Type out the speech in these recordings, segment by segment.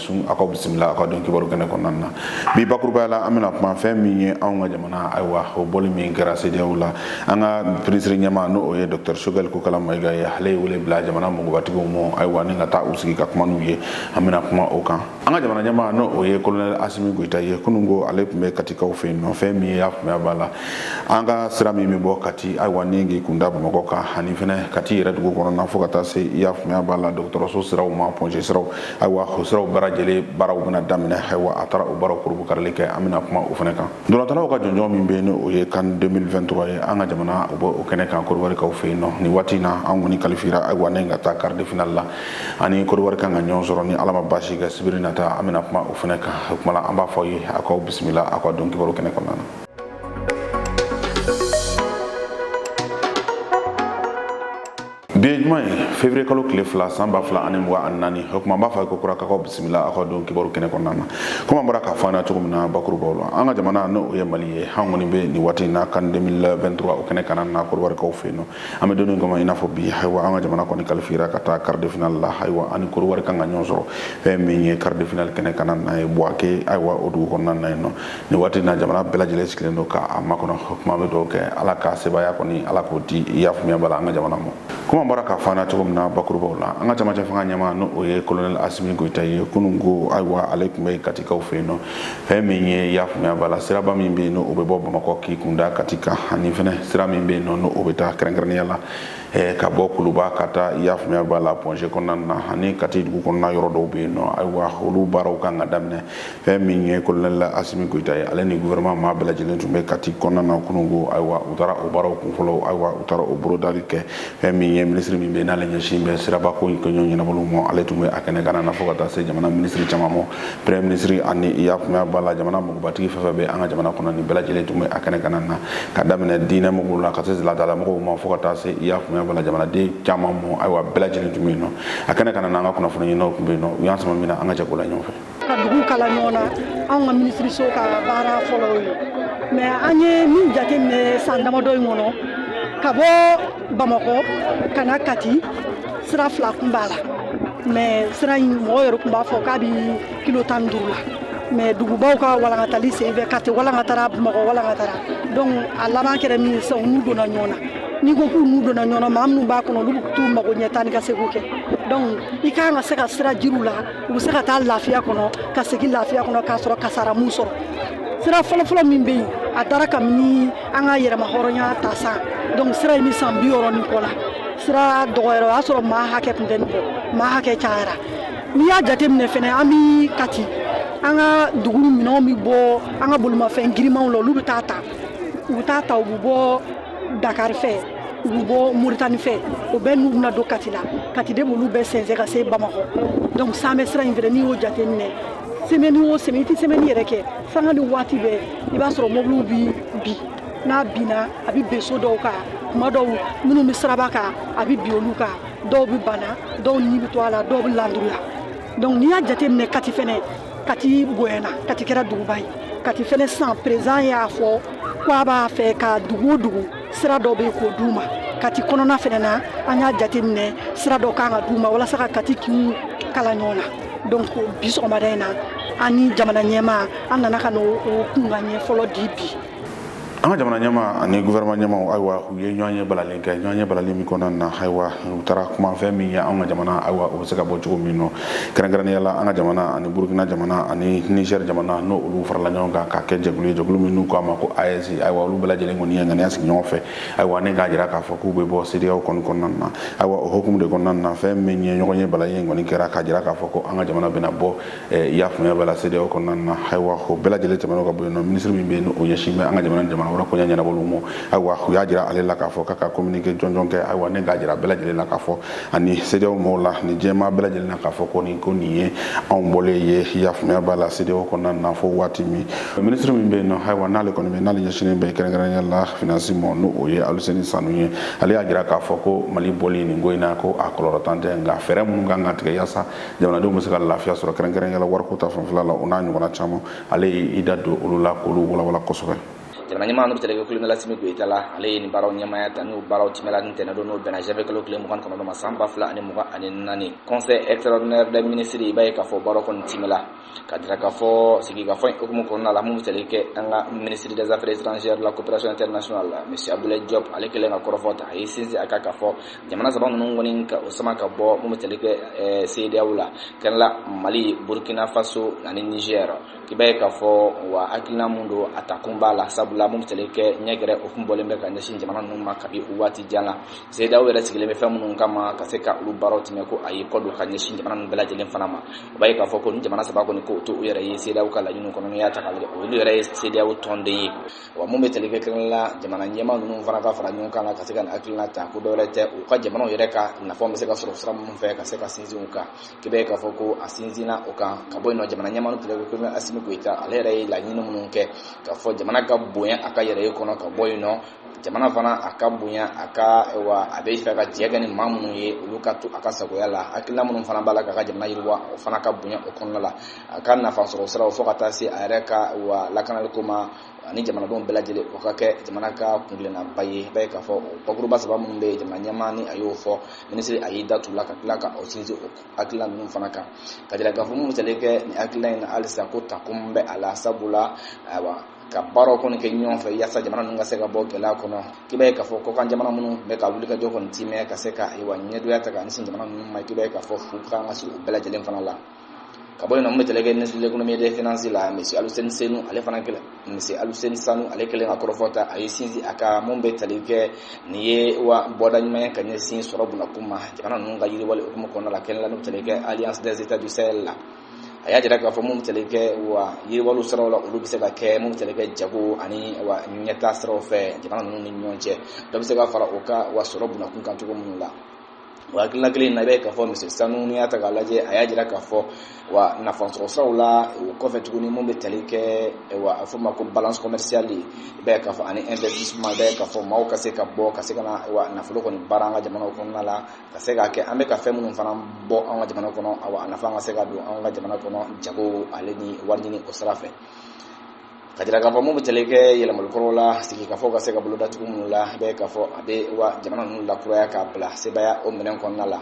sun aw ka bisimila aw ka don kibaru kɛnɛ kɔnɔna na bi bakurubaw la an bɛna kuma fɛn min ye anw ka jamana ayiwa o bɔli min kɛra sedeyaw la an ka minisiri ɲɛmaa n'o o ye dɔktɛr sogɛli kokala mayiga ye ale ye wele bila jamana mɔgɔbatigiw ma ayiwa ni ka taa u sigi ka kuma n'u ye an bɛna kuma o kan an ka jamana ɲɛmaa n'o o ye kolonɛli asimi goyita ye kunun ko ale tun bɛ katikaw fɛ yen nɔ fɛn min i y'a faamuya b'a la an ka sira min bɛ bɔ kati ayiwa ni k'i kun da bamakɔ kan ani fɛnɛ kati yɛrɛ dugu kɔnɔna fo ka taa se i y'a faamuya b'a la dɔgɔtɔrɔso siraw ma pɔnze siraw ayiwa o siraw bɛɛ lajɛlen baaraw bɛna daminɛ ayiwa a taara o baaraw kurunbonkarili kɛ an bɛna kuma o fɛnɛ kan ntolatannaw ka jɔnjɔn min bɛ yen n'o ye kan 2023 ye an ka jamana o bɛ o kɛnɛ kan koriwarikaw fɛ yen nɔ nin waati in na an kɔni kalifira ayiwa ni ka taa quart de finale la ani koriwari kan ka ɲɔgɔn sɔrɔ ni ala ma baasi kɛ sibiri nata an bɛna kuma o fɛnɛ kan o kuma la an b'a fɔ ye a k'aw bisimila a ka don kibaru kɛnɛ kɔnɔna na bi ye juma ye février kalo tile fila san ba fila ani mugan ani naani o kuma an b'a fɔ a ye kokura k'aw bisimila aw ka don kibaru kɛnɛ kɔnɔna na komi an bɔra k'a fɔ an na cogo min na bakurubaw la an ka jamana n'o ye mali ye an kɔni bɛ nin waati in na kan 2023 o kɛnɛ kan na koriwarikaw fɛ yen nɔ an bɛ don in kɔnɔ i n'a fɔ bi ayiwa an ka jamana kɔni kalifira ka taa quart de finale la ayiwa ani koriwari kan ka ɲɔgɔn sɔrɔ fɛn min ye quart de finale kɛnɛ kan na ye buwake ayiwa o dugu kɔnɔna na yen nɔ nin waati in na jamana bɛɛ lajɛlen sigilen don k'a makɔnɔ kuma bɛ dugawu kɛ ala ka sebaaya kɔni ala k'o di i y'a faamuya b'a la an ka jamana ma komi an bɔra k'a fɔ an na cogo min na bakurubaw la an ka cɛmancɛ fanga ɲɛmaa n'o o ye kolonɛli asimi goyita ye kunun ko ayiwa ale tun bɛ katikaw fɛ yen nɔ fɛn min ye i y'a faamuya b'a la siraba min bɛ yen n'o o bɛ bɔ bamakɔ k'i kun da kati kan ani fɛnɛ sira min bɛ yen nɔ n'o o bɛ taa kɛrɛnkɛrɛnnenya la Eh, ka bɔ kuluba ka taa i y'a faamuya b'a la pɔnze kɔnɔna na ani kati dugu kɔnɔna yɔrɔ dɔw bɛ yen nɔ ayiwa olu baaraw kan ka daminɛ fɛn min ye kolonɛli asimi goyita ye ale ni gouvernement maa bɛɛ lajɛlen tun bɛ kati kɔnɔna na kunun ko ayiwa u taara o baaraw kun fɔlɔ ayiwa u taara o bolodali kɛ fɛn min ye minisiri min bɛ n'ale ɲɛsin bɛ siraba ko in kɛɲɛ ɲɛnabɔli ma ale tun bɛ a kɛnɛ kan na fo ka taa se jamana minisiri caman ma premier minisiri ani i y'a faamuya b'a la jamana mɔgɔbatigi fɛn fɛn bɛ an ka jamana kɔnɔ nin bɛɛ lajɛlen tun bɛ a kɛnɛ kan na ka daminɛ diinɛ mɔgɔw la ka se laadala mɔgɔw ma fo ka taa se i y'a faamuya b'a la jamanaden caman ma ayiwa bɛɛ lajɛlen tun bɛ yen nɔ a kɛnɛ kan na an ka kunnafoni ɲininaw tun bɛ yen nɔ u y'an sama min na an ka jɛ k'o la ɲɔgɔn fɛ ka dugu kala ɲɔgɔn na anw ka minisiriso ka baara fɔlɔw ye mais an ye min jateminɛ san damadɔ in kɔnɔ ka bɔ bamakɔ ka na kati sira fila kun b'a la mais sira in mɔgɔ yɛrɛ kun b'a fɔ k'a bi kilo tan duuru la mais dugubaw ka walankatali senfɛ kati walankatara bamakɔ walankatara donc a laban kɛra min ye sisan u n'u donna ɲɔgɔn na n'i ko k'u n'u donna ɲɔgɔn na maa minnu b'a kɔnɔ olu t'u mago ɲɛ taa ni ka segin kɛ donc i ka kan ka se ka sira jiriwa u bɛ se ka taa lafiya kɔnɔ ka segin lafiya kɔnɔ k'a sɔrɔ kasara m'u sɔrɔ sira fɔlɔfɔlɔ min bɛ yen a dara kabini an ka yɛrɛmahɔrɔnya ta san donc sira in bɛ san bi wɔɔrɔ ni kɔ la sira dɔgɔyara o y'a sɔrɔ maa hakɛ tun tɛ nin bɔ maa hakɛ cayara n'i y'a jateminɛ fɛnɛ an bi kati an ka dugu minɛnw bɛ bɔ an ka bolimafɛn girimanw la olu bɛ taa ta u bɛ taa ta u bɛ bɔ dakari fɛ u bɛ bɔ moritani fɛ o bɛɛ n'u bɛna don kati la kati de b'olu bɛɛ sɛnsɛn ka se bamakɔ donc san bɛ sira in fɛnɛ n'i y'o jate minɛ semaine o semaine i tɛ semaine yɛrɛ kɛ sanga ni waati bɛɛ i b'a sɔrɔ mɔbiliw bi bin n'a binna a bɛ bin so dɔw kan tuma dɔw minnu bɛ siraba kan a bɛ bin olu kan dɔw bɛ bana dɔw ni bɛ to a la dɔw bɛ landuruya donc n'i y'a jate minɛ kati fɛnɛ kati bonyana kati kɛra duguba ye kati fɛnɛ san président y'a fɔ ko a b'a fɛ ka dugu o dugu sira dɔ bɛ k'o d'u ma kati kɔnɔna fɛnɛ na an y'a jateminɛ sira dɔ kan ka d'u ma walasa ka kati kinw kala ɲɔgɔn na donc bi sɔgɔmada in na an ni jamana ɲɛmaa an nana ka n'o kunkanɲɛ fɔlɔ di bi an ka jamana ɲɛmaa ani gouvernement ɲɛmaaw ayiwa u ye ɲɔgɔnye balalen kɛ ɲɔgɔnye balalen min kɔnɔna na ayiwa u taara kuma fɛn min ye an ka jamana ayiwa o bɛ se ka bɔ cogo min nɔ kɛrɛnkɛrɛnnenya la an ka jamana ani burukina jamana ani niger jamana n'o olu farala ɲɔgɔn kan k'a kɛ jɛkulu ye jɛkulu min n'u k'a ma ko AES ayiwa olu bɛɛ lajɛlen kɔni ye ŋaniya sigi ɲɔgɔn fɛ ayiwa ne k'a jira k'a fɔ k'u bɛ bɔ CEDEAO kɔni kɔnɔna na ayiwa o hukumu de kɔnɔna na fɛn min ye ɲɔgɔnye balalen kɔni kɛra k'a jira k'a fɔ ko an ka jamana bɛna bɔ i y'a faamuya b'a la CEDEAO kɔnɔna na ayiwa o bɛɛ lajɛlen tɛmɛn'o ka bɔ yen nɔ minisiri min bɛ yen o ɲɛsin bɛ an ka jamana ni jamana wɛrɛ koɲɛ ɲɛnabɔliw ma ayiwa u y'a jira ale la k'a fɔ k'a ka communiqué jɔnjɔn kɛ ayiwa ne k'a jira bɛɛ lajɛlen na k'a fɔ ani CEDEAO mɔgɔw la ni jama bɛɛ lajɛlen na k'a fɔ ko nin ko nin ye anw bɔlen ye i y'a faamuya b'a la CEDEAO kɔnɔna na fo waati min minisiri min bɛ yen nɔ ayiwa n'ale kɔni bɛ n'ale ɲɛsinnen bɛ kɛrɛnkɛrɛnnenya la finance ma n'o o ye Aluseni Sanu ye ale y'a jira k'a fɔ ko Mali bɔli nin ko in na ko a kɔlɔlɔntan tɛ nka fɛɛrɛ minnu kan ka tigɛ yaasa jamanadenw bɛ se ka lafiya sɔrɔ kɛrɛnkɛrɛnnenya la wariko ta fanfɛla la o n'a ɲɔgɔnna caman ale ye i da don olu la k'olu walawala kosɛbɛ jamana ɲɛmaa n'o bɛ tali kɛ kolonɛli asimi goyita la ale ye nin baaraw ɲɛmaya ta n'o baaraw timɛla nin ntɛnɛn don n'o bɛnna janvier kalo tile mugan kɔnɔntɔn ma san ba fila ani mugan ani naani conseil extraordinaire des ministres i b'a ye k'a fɔ baaraw kɔni timɛla k'a jira k'a fɔ sigikafɔ in hukumu kɔnɔna la min bɛ tali kɛ an ka minisiri des affaires étrangères la coopération internationale la monsieur abdoulaye diop ale kɛlen ka kɔrɔfɔ ta a y'i sinsin a kan k'a fɔ jamana saba ninnu kɔni k'u sama ka bɔ min bɛ tali kɛ eh, CEDEAO la kɛrɛla mali burkina faso ani niger k'i b'a ye k'a fɔ wa hakilina min don a ta kun b'a la sabula min bɛ tali kɛ ɲɛgɛrɛ o kun bɔlen bɛ ka ɲɛsin jamana ninnu ma kabi waati jan na Sedaw yɛrɛ sigilen bɛ fɛn minnu kama ka se ka olu baaraw tiimɛ ko a y'i kɔdon ka ɲɛsin jamana bɛɛ lajɛlen fana ma i b'a ye k'a fɔ ko ni jamana saba kɔni k'u to u yɛrɛ ye sedaw ka laɲini kɔnɔ y'a ta olu yɛrɛ ye sedaw tɔnden ye wa minnu bɛ tali kɛ kɛnɛ la jamana ɲɛmaa ninnu fana ka fara ɲɔgɔn kan ka se ka hakilina ta ko dɔwɛrɛ tɛ u ka jamanaw yɛrɛ ka nafa bɛ se ka sɔrɔ sira minnu fɛ ka se ka sinsin u kan k'i b'a ye k'a fɔ ko a sinsinna o kan ka bɔ yen nɔ jamana ɲɛmaa tali kɛ Asimi Goyita ale yɛrɛ ye laɲini minnu kɛ k'a fɔ jamana ka bonya a ka yɛrɛ ye kɔnɔ ka bɔ yen nɔ jamana fana a ka bonya a ka wa a b'a fɛ ka jɛ kɛ ni maa minnu ye olu ka to a ka sagoya la hakilila minnu fana b'a la k'a ka jamana yiriwa o fana ka bonya o kɔnɔna la a ka nafa sɔrɔ siraw fo ka taa se a yɛrɛ ka wa lakanaliko ma ani jamanadenw bɛɛ lajɛlen o ka kɛ jamana ka kuntilennaba ye i b'a ye k'a fɔ o bakuruba saba minnu bɛ jamana ɲɛmaa ni a y'o fɔ minisiri a y'i da tu la ka tila ka o sinsin o hakilila ninnu fana kan k'a jira k'a fɔ mun tali kɛ nin hakilila in na halisa ko takun bɛ a la sabula ayiwa ka baaraw kɔni kɛ ɲɔgɔn fɛ yasa jamana ninnu ka se ka bɔ gɛlɛya kɔnɔ k'i b'a ye k'a fɔ kɔkan jamana minnu bɛ ka wulikajɔ kɔni timɛ ka se ka ayiwa ɲɛngoya ta ka ɲɛsin jamana ninnu ma k'i b'a ye k'a fɔ fu kan ka siri u bɛɛ lajɛlen fana la ka bɔ yen nɔ mun bɛ tali kɛ ministre de l'économie et des finances la monsieur Aluseni Senu ale fana kɛlen monsieur Aluseni Sanu ale kɛlen ka kɔrɔfɔ ta a y'i sinsin a kan mun bɛ tali kɛ nin ye wa bɔda ɲuman ye ka ɲɛsin sɔrɔ bunakun ma jamana ninnu ka yiriwali hukumu kɔnɔna la kɛnɛ la n'o tali kɛ alliance des états du Sahel la a y'a jira k'a fɔ mun tali kɛ wa yiriwaliw siraw la olu bɛ se ka kɛ mun tali kɛ jago ani wa ɲɛtaa siraw fɛ jamana ninnu ni ɲɔgɔn cɛ dɔ bɛ se ka fara u ka wa sɔrɔ bunakun kan cogo minnu la o hakilina kelen in na i bɛ k'a fɔ monsieur Sanu n'i y'a ta k'a lajɛ a y'a jira k'a fɔ wa nafasɔrɔ siraw la o kɔfɛ tuguni mun bɛ tali kɛ wa a fɔ ma ko balance commerciale i bɛ k'a fɔ ani investissement i bɛ k'a fɔ maaw ka se ka bɔ ka se ka na wa nafolo kɔni baara an ka jamanaw kɔnɔna la ka se k'a kɛ an bɛ ka fɛn minnu fana bɔ an ka jamana kɔnɔ awa a nafa ka se ka don an ka jamana kɔnɔ jago ale ni wari ɲini o sira fɛ k'a jira k'a fɔ mun bɛ tali kɛ yɛlɛmali kɔrɔ la sigikafɔ ka se ka bolo datugu minnu la i bɛ k'a fɔ a bɛ wa jamana ninnu lakuraya k'a bila sebaaya o minɛn kɔnɔna la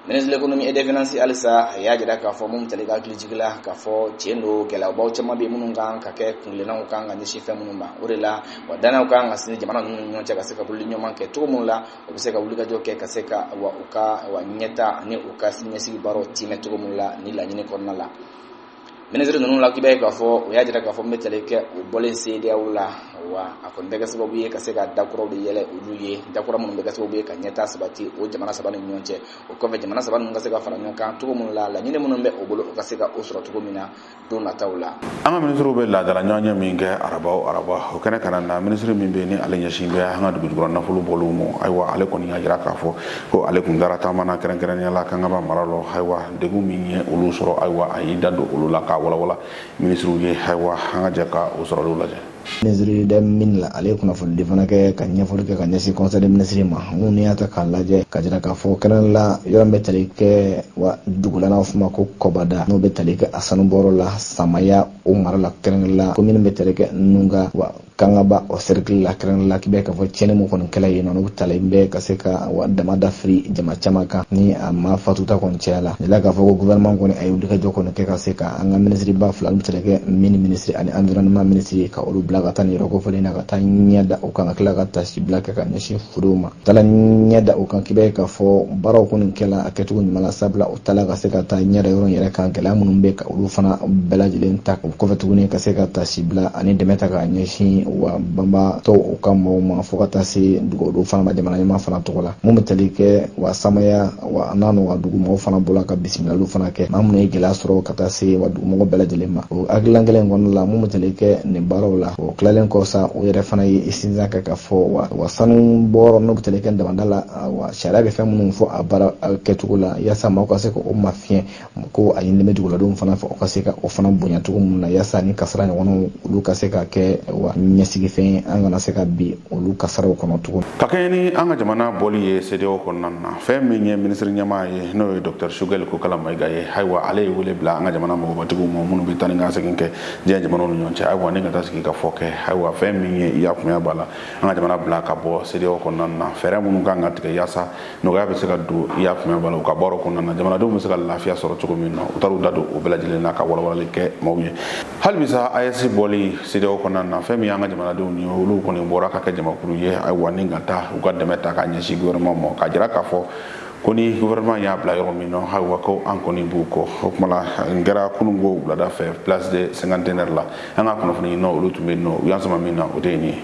ministre de l'économie et des finances halisa a y'a jira k'a fɔ mun tali kɛ hakilijigin la k'a fɔ tiɲɛ don gɛlɛyabaw caman bɛ minnu kan ka kɛ kuntilennaw kan ka ɲɛsin fɛn minnu ma o de la wa dannaya kan ka sinsin jamana ninnu ni ɲɔgɔn cɛ ka se ka bolo ɲɔgɔn kɛ cogo minnu la u bɛ se ka wulikajɔ kɛ ka se ka wa u ka wa ɲɛtaa ani u ka siniɲɛsigi baaraw tiimɛ cogo min la nin laɲini kɔnɔna la minisiri ninnu la k'i b'a ye k'a fɔ u y'a jira k'a fɔ mun bɛ tali kɛ u bɔlen Sedaw la wa a kɔni bɛ kɛ sababu ye ka se ka da kuraw de yɛlɛ olu ye da kura minnu bɛ kɛ sababu ye ka ɲɛtaa sabati o jamana saba ni ɲɔgɔn cɛ o kɔfɛ jamana saba ninnu ka se ka fara ɲɔgɔn kan cogo minnu la laɲini minnu bɛ u bolo u ka se ka o sɔrɔ cogo min na don nataw la an ka minisiriw bɛ laadala ɲɔgɔnye min kɛ araba o araba o kɛnɛ kanna na minisiri min bɛ yen ni ale ɲɛsin bɛ an ka dugujukɔrɔ nafolo bɔliw ma ayiwa ale kɔni y'a jira k'a fɔ ko ale tun taara taama na kɛrɛnkɛrɛnnenya la Kangaba mara lɔ ayiwa degun min ye olu sɔrɔ ayiwa a y'i da don olu la k'a walawala minisiriw ye ayiwa an ka jɛ ka o sɔrɔliw lajɛ ministre des mines la ale ye kunnafonidi fana kɛ ka ɲɛfɔli kɛ ka ɲɛsin conseil des ministres ma min n'i y'a ta k'a lajɛ ka jira k'a fɔ kɛrɛnkɛrɛnnenya la yɔrɔ min bɛ tali kɛ wa dugu la n'a f'o ma ko kɔbada n'o bɛ tali kɛ a sanubɔyɔrɔ la samaya o mara la kɛrɛnkɛrɛnnenya la komini bɛ tali kɛ nunga wa kangaba o sɛrikili la kɛrɛnkɛrɛnnenya la k'i b'a ye k'a fɔ tiɲɛni min kɔni kɛla yen nɔ n'o talen bɛ ka se ka wa damada firi jama caman kan ni a maa fatuta kɔni cayala jira k'a fɔ ko gouvernement kɔni a ye wulikajɔ kɔni kɛ ka se ka an ka minisiriba fila minnu bɛ tali kɛ mini minisiri ani environnement minisiri ka olu bila ka taa nin yɔrɔ kofɔlen na ka taa ɲɛ da o kan ka tila ka tasibila kɛ ka ɲɛsin furew ma taala ɲɛ da o kan k'i b'a ye k'a fɔ baaraw kɔni kɛla a kɛcogo ɲuman na sabula o taala ka se ka taa ɲɛ da yɔrɔ in yɛrɛ kan gɛlɛya minnu bɛ ka olu fana bɛɛ lajɛlen ta o kɔfɛ tuguni ka se ka tasibila ani dɛmɛ ta ka ɲɛsin wa banbaatɔw u ka mɔgɔw ma fo ka taa se dugudenw fana ma jamana ɲɛmaa fana tɔgɔ la min bɛ tali kɛ wa samaya wa n'a n'u ka dugumɔgɔw fana bɔla ka bisimilaliw fana kɛ maa minnu ye gɛlɛya sɔrɔ ka taa se wa dugumɔgɔ bɛɛ lajɛlen ma o hakililan kelen kɔnɔna la min bɛ tali kɛ nin baaraw la o tilalen kɔ sa o yɛrɛ fana y'i sinsin a kan k'a fɔ wa sanubɔyɔrɔ n'o bɛ tali kɛ damada la wa sariya bɛ fɛn minnu fɔ a baara kɛcogo la yaasa maaw ka se k'o mafiɲɛ ko a ɲinini bɛ duguladenw fana fɛ u ka se ka o fana bonya cogo min na yaasa nin kasara ɲɔgɔnw olu ka se ka kɛ wa ɲɛsigifɛn an kana se ka bin olu kasaraw kɔnɔ tugun ka kɛɲɛ ni an ka jamana bɔli ye CEDEAO kɔnɔna na fɛn min ye minisiri ɲɛmaa ye n'o ye Dɔkitɛri Sugɛli Kokala Mayiga ye ayiwa ale ye wele bila an ka jamana mɔgɔbatigiw ma minnu bɛ taa ni ka segin kɛ diɲɛ jamanaw ni ɲɔgɔn cɛ ayiwa ni ka taa sigikafɔ kɛ ayiwa fɛn min ye i y'a faamuya b'a la an ka jamana bila ka bɔ CEDEAO kɔnɔna na fɛɛrɛ minnu kan ka tigɛ yaasa nɔgɔya bɛ se ka don i y'a faamuya b'a la u ka baaraw kɔnɔna na jamanadenw bɛ se ka lafiya sɔrɔ cogo min na u taara u da don o bɛɛ lajɛlen na ka walawalali kɛ maaw ye hali bi sa AES bɔli CEDEAO kɔnɔna na fɛn min y'an ka jamanadenw ye olu kɔni bɔra ka kɛ jamakulu ye ayiwa ni ka taa u ka dɛmɛ ta k'a ɲɛsin gouvernement ma k'a jira k'a fɔ ko ni gouvernement y'a bila yɔrɔ min na ayiwa ko an kɔni b'u kɔ o tuma la nin kɛra kunun ko wulada fɛ place de cinquantenaire la an ka kunnafoni ɲininaw olu tun bɛ yen nɔ u y'an sama min na o de ye nin ye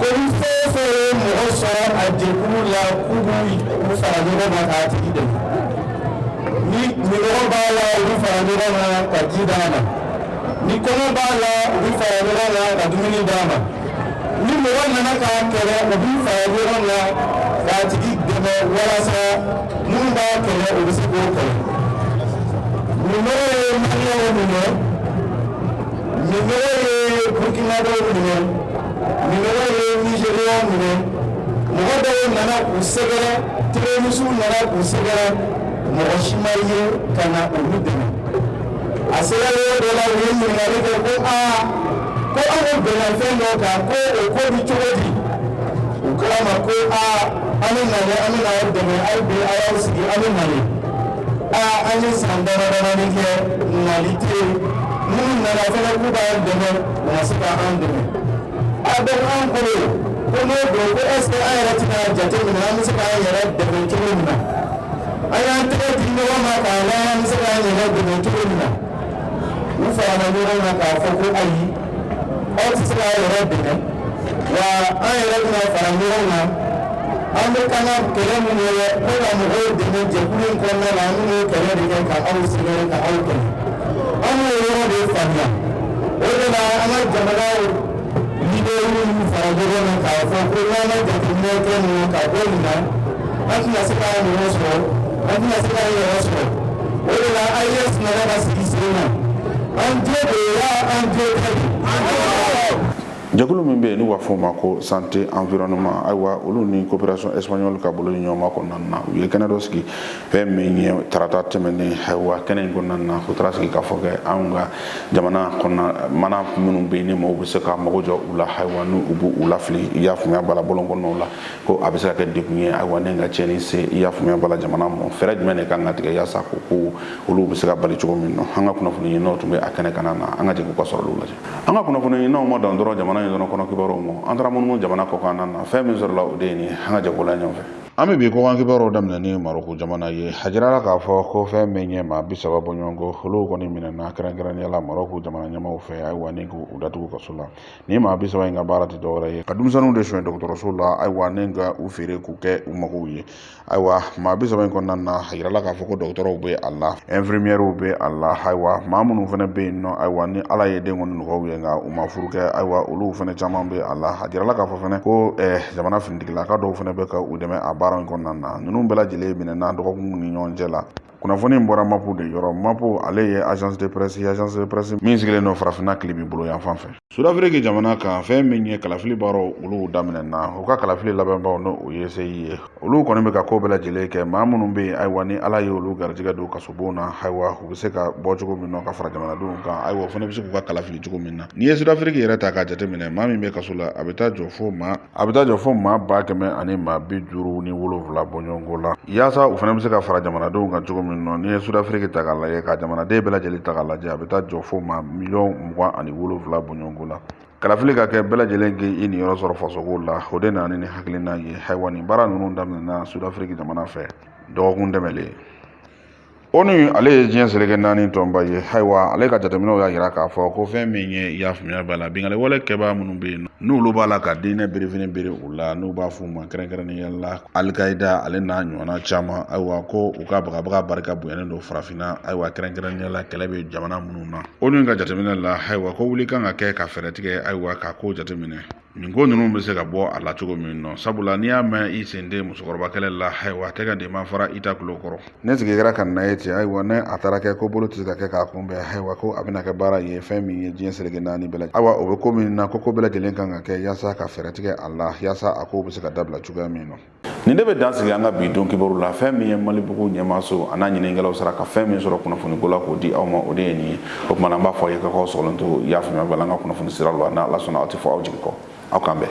ko ni fɛn o fɛn ye mɔgɔ sɔrɔ a jɛkulu la k'u b'u fara ɲɔgɔn kan k'a tigi dɛmɛ ni minnɔgɔ b'a la u bɛ fara ɲɔgɔn kan ka ji d'a ma ni kɔngɔ b'a la u bɛ fara ɲɔgɔn kan ka dumuni d'a ma ni mɔgɔ nana k'a kɛlɛ u b'u fara ɲɔgɔn kan k'a tigi dɛmɛ walasa minnu b'a kɛlɛ u bɛ se k'o kɛlɛ minnɔgɔ ye maliyɛnw minɛ. minnɔgɔ ye burukinabɛw minɛ minnɔgɔ ye nizɛriyɛnw minɛ mɔgɔ dɔw nana k'u sɛgɛrɛ terorisiw nana k'u sɛgɛrɛ mɔgɔ si ma ye ka na olu dɛmɛ a sera yɔrɔ dɔ la u ye ɲininkali kɛ ko aa ko an bɛnna fɛn dɔ kan ko o ko bɛ cogo di u k'olu ma ko aa an bɛ na dɛ an bɛ n'aw dɛmɛ aw bɛ a y'aw sigi an bɛ na an ye san damadamanin kɛ nali tɛ yen minnu nana fana k'u b'an dɛmɛ u ma se ka an dɛmɛ donc an bolo ko n'o don ko est ce que an yɛrɛ tɛn'a jateminɛ an bɛ se k'an yɛrɛ dɛmɛ cogo min na an y'an tɛgɛ di ɲɔgɔn ma k'a lajɛ an bɛ se k'an yɛrɛ dɛmɛ cogo min na u farala ɲɔgɔn kan k'a fɔ ko ayi Aw tɛ se k'aw yɛrɛ dɛmɛ wa an yɛrɛ bɛna fara ɲɔgɔn na an bɛ k'an ka kɛlɛ minnu ye ko ka mɔgɔw dɛmɛ jɛkulu in kɔnɔna na an bɛn'o kɛlɛ de kɛ ka aw sɛgɛrɛ ka aw kɛlɛ an y'o yɔrɔ de faamuya o de la an ka jamanaw leader minnu fara ɲɔgɔn na k'a fɔ ko n'an ma jateminɛ kɛ nin na ka bɔ nin na an tɛna se k'an yɛrɛ sɔrɔ an tɛna se k'an yɛrɛ sɔrɔ o de la AES nana ka sigi sen kan, an jo de ye wa an jo tɛ de? Jɛkulu min bɛ yen n'u b'a fɔ o ma ko santé environnement ayiwa olu ni coopération espagnole ka bolodiɲɔgɔnma kɔnɔna na u ye kɛnɛ dɔ sigi fɛn min ye tarata tɛmɛnen ayiwa kɛnɛ in kɔnɔna na u taara sigi k'a fɔ kɛ anw ka jamana kɔnɔna mana minnu bɛ yen ni maaw bɛ se ka mago jɔ u la ayiwa n'u b'u lafili i y'a faamuya bala bɔlɔn kɔnɔnaw la ko a bɛ se ka kɛ degun ye ayiwa ni ka tiɲɛni se i y'a faamuya bala jamana mɔ fɛɛrɛ jumɛn de kan ka tigɛ yaasa ko ko olu bɛ se ka bali cogo min na an ka kunnafoni ɲininaw tun bɛ a kɛnɛ kanna na an ka jɛ k'olu ka sɔrɔ olu lajɛ an ka kunnafoni ɲininaw ma dan dɔrɔn jamana in dɔrɔn kɔnɔ kibaruw ma an taara munumunu jamana kɔkan na fɛn min sɔrɔla o de ye nin an ka jɛ k'olu lajɛ ɲɔgɔn fɛ an bɛ bi kɔkan kibaruw daminɛ ni maroko jamana ye a jirala k'a fɔ ko fɛn min ye maa bi saba bɔɲɔgɔnko olu kɔni minɛna kɛrɛnkɛrɛnnenya la maroko jamana ɲɛmaaw fɛ ayiwa ni k'u datugu kaso la nin maa bi saba in ka baara tɛ dɔwɛrɛ ye ka denmisɛnninw de sonyɛ dɔgɔtɔrɔso la ayiwa ni ka u feere k'u kɛ u magow ye ayiwa maa bi saba in kɔnɔna na a yirala k'a fɔ ko dɔgɔtɔrɔw bɛ a la infirmiɛriw bɛ a la ayiwa maa minnu fana bɛ yen nɔ ayiwa ni ala ye den kɔni nɔgɔy'u ye nka u ma furu kɛ ayiwa olu fana caman bɛ a la a jirala k'a fɔ fana ko eh, jamana finitigilaka dɔw fana bɛ ka u dɛmɛ a baara in kɔnɔna na ninnu bɛɛ lajɛlen minɛna dɔgɔkunw ni ɲɔgɔn cɛ la kunnafoni in bɔra mapu de yɔrɔ mapu ale ye agence de presse ye agence de presse min sigilen don farafinna tilebin bolo yanfan fɛ sudafiriki jamana kan fɛn min ye kalafili baaraw olu daminɛna u ka kalafili labɛnbaw n'o ye seyi ye olu kɔni bɛ ka ko bɛɛ lajɛlen kɛ maa minnu bɛ yen ayiwa ni ala ye olu garijɛgɛ don kasobon na ayiwa u bɛ se ka bɔ cogo min na ka fara jamanadenw kan ayiwa u fana bɛ se k'u ka kala fili cogo min na n'i ye sudafiriki yɛrɛ ta k'a jateminɛ maa min bɛ kaso la a bɛ taa jɔ fo maa a bɛ taa jɔ fo maa ba kɛmɛ ani maa bi duuru ni wolonwula bɔɲɔgɔnko la yaasa u fana bɛ se ka fara jamanadenw kan cogo min na n'i ye sudafiriki ta k'a lajɛ ka jamanaden bɛɛ lajɛlen ta k'a lajɛ a bɛ taa jɔ fo maa miliyɔn mugan ani wolonwula bɔɲɔgɔnko la kalafili ka kɛ bɛɛ lajɛlen k'i i niyɔrɔ sɔrɔ fasoko la o de nana ni nin hakilina ye ayiwa nin baara ninnu daminɛna sudafiriki jamana fɛ dɔgɔkun tɛmɛlen onu ale ye diɲɛ seleke naani tɔnba ye ayiwa ale ka jateminɛw y'a yira k'a fɔ ko fɛn min ye i y'a faamuya b'a la binkanni wale kɛbaa minnu bɛ yen n'olu b'ala ka diinɛ birifini biri u la n'u b'a f'u ma kɛrɛnkɛrɛnnenya la alikayida ale n'a ɲɔgɔnna caman ayiwa ko u ka bagabaga barika bonyalen don farafinna ayiwa kɛrɛnkɛrɛnnenya la kɛlɛ bɛ jamana minnu na onu ka jateminɛ la ayiwa ko wuli kan ka kɛ ka fɛɛrɛ tigɛ ayiwa ka ko jateminɛ nin ko ninnu bɛ se ka bɔ a la cogo min nɔ sabula n'i y'a mɛn i sen tɛ musokɔrɔba kɛlɛ la ayiwa a tɛgɛ de ma fara i ta tulo kɔrɔ ni sigi kɛra k'a lajɛ ten ayiwa ni a taara kɛ ko bolo tɛ se ka kɛ k'a kunbɛn ayiwa ko a bɛna kɛ baara ye fɛn min ye diɲɛ seleke naani bɛɛ lajɛlen ayiwa o bɛ ko min na ko ko bɛɛ lajɛlen kan ka kɛ yaasa ka fɛɛrɛ tigɛ a la yaasa a kow bɛ se ka dabila cogoya min nɔ nin de bɛ dan sigi an ka bi don kibaru la fɛn min ye malibugu ɲɛmaaso a n'a ɲininkɛlaw sera ka fɛn min sɔrɔ kunnafoniko la k'o di aw ma o de ye nin ye o tuma na an b'a fɔ aw ye ka k'aw sɔgɔlen to y'a faamuya b'a la an ka kunnafoni sira la n'ala sɔnna aw tɛ fɔ aw jigi kɔ aw k'an bɛn